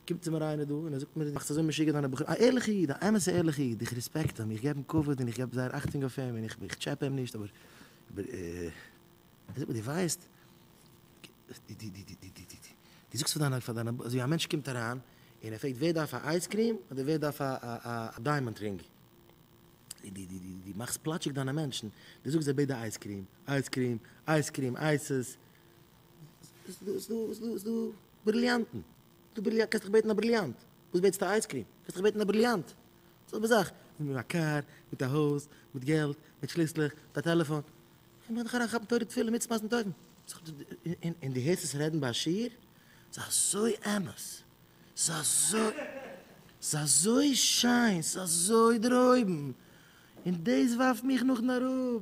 קומט צו מיר איינער דא און ער זאגט מיר, דו מאכסט אזוי משוגע דיינע בחורים, א ערליכע איד, א אמת'ע ערליכע איד, איך רעספעקט אים, איך געב אים כבוד און איך געב זייער אכטונג אויף אים און איך טשעפע אים נישט, אבער ער זאגט מיר, דו ווייסט, דו זאגסט פאר דיינע, אזוי ווי א מענטש קומט אריין און ער פרעגט ווער דארף א אייז קריעם אדער ווער דארף א דיימאנד רינג, דו מאכסט פלאטשיג דיינע מענטשן, דו זאגסט זיי בעדע אייז קריעם, אייז קריעם, אייז קריעם, אייסעס, ס'דא, ס'דא, ס'דא, ס'דא. בריליאנטן. דו בריליאנט קענסט דיך בעטן א בריליאנט? וואס בעטסטו אייזקרים? קענסט דיך בעטן א בריליאנט? זעלבע זאך מיט א קאר, מיט א הויז, מיט געלט, מיט שליסלעך, מיט א טעלעפאן. איך מיך דיך אריינכאפן תורה תפלה מצוה מעשים טובים. און דו הערסט עס רעדן ביי א שיעור? ס'איז אזוי אמת! ס'איז אזוי ס'איז אזוי שיין! ס'איז אזוי דערהויבן! און דאס ווארפט מיך נאכדעם אראפ.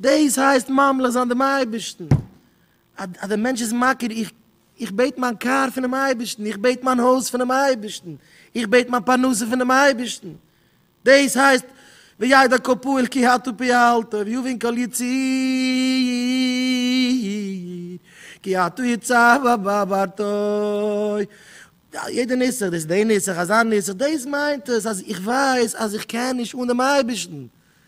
דאס הייסט ממליך זיין דעם אייבערשטן, אז דער מענטש איז מכיר, איך איך בעט מיין קאר פונעם אייבערשטן, איך בעט מיין הויז פונעם אייבערשטן, איך בעט מיין פרנסה פונעם אייבערשטן, דאס הייסט וידע כל פועל כי אתה פעלת ויבין כל יציר כי אתה יצרת בעבדתו, יעדע נוסח, דאס איז די נוסח, אזא נוסח, דאס מיינט עס אז איך ווייס אז איך קען נישט אן דעם אייבערשטן,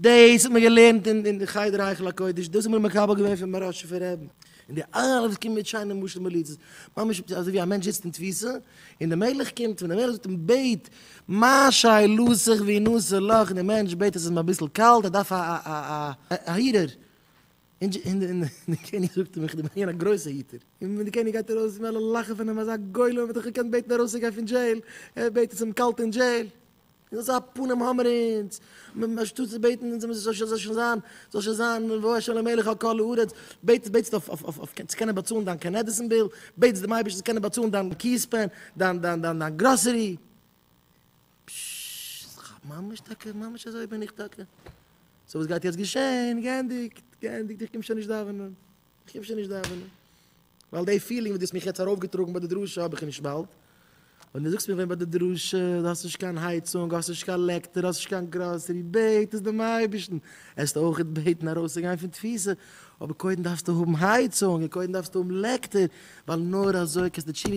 דאס האט מען געלערנט אין חדר היכל הקודש, דאס האט מען מקבל געווען פון מרן ראשי פון רעבן, און די אלע וואס קומען מיט שיינע משלים מליצות, ממש אזוי ווי א מענטש זיצט אין תפיסה און די מלך קומט און די מלך זאגט אים בעט מה שאלותיך ואנוסה לך, און די מענטש בעט עס איז אים אביסל קאלט ער דארף א היטער, און די קעניג זאגט אים איך בין געווען א גרויסע היטער, און די קעניג גייט ארויס און אלע לאכן פון אים אזא גולם האט דאך געקענט בעטן ארויס צו גיין פון דזשעיל, ער בעט עס איז אים קאלט אין דזשעיל, אזא פנים האבן מיר אונז, אנשטאט צו בעטן אונז זאל שוין זיין, זאל שוין זיין ובאו אשר למלך על כל הארץ, בעטסט בעטסט אויף אויף צו קענען באצאלן דיין קענעדיסן ביל, בעטסט דעם אייבערשטן צו קענען באצאלן דיין קיעס פען, דיין דיין דיין דיין גראסערי. פששש, כ'האב ממש טאקע, ממש אזוי בין איך טאקע. סאו וואס גייט יעצט געשען? געענדיגט, געענדיגט, איך קום שוין נישט דאווענען. איך אפשר נישט דאווענען, ווייל די פילינג וואס דו האסט מיך יעצט ארויפגעטראגן ביי די דרשה האב איך נישט באלד, ווען דו זאגסט מיר ווען ביי די דרשה, דו האסט נישט קיין הייצונג, האסט נישט קיין לעקטער, האסט נישט קיין גראסערי, בעט עס דעם אייבערשטן, עסט אויכעט בעטן ארויסצוגיין פון תפיסה, אבער קודם דארפסטו האבן הייצונג און קודם דארפסטו האבן לעקטער, ווייל נאר אזוי קענסטו תשובה,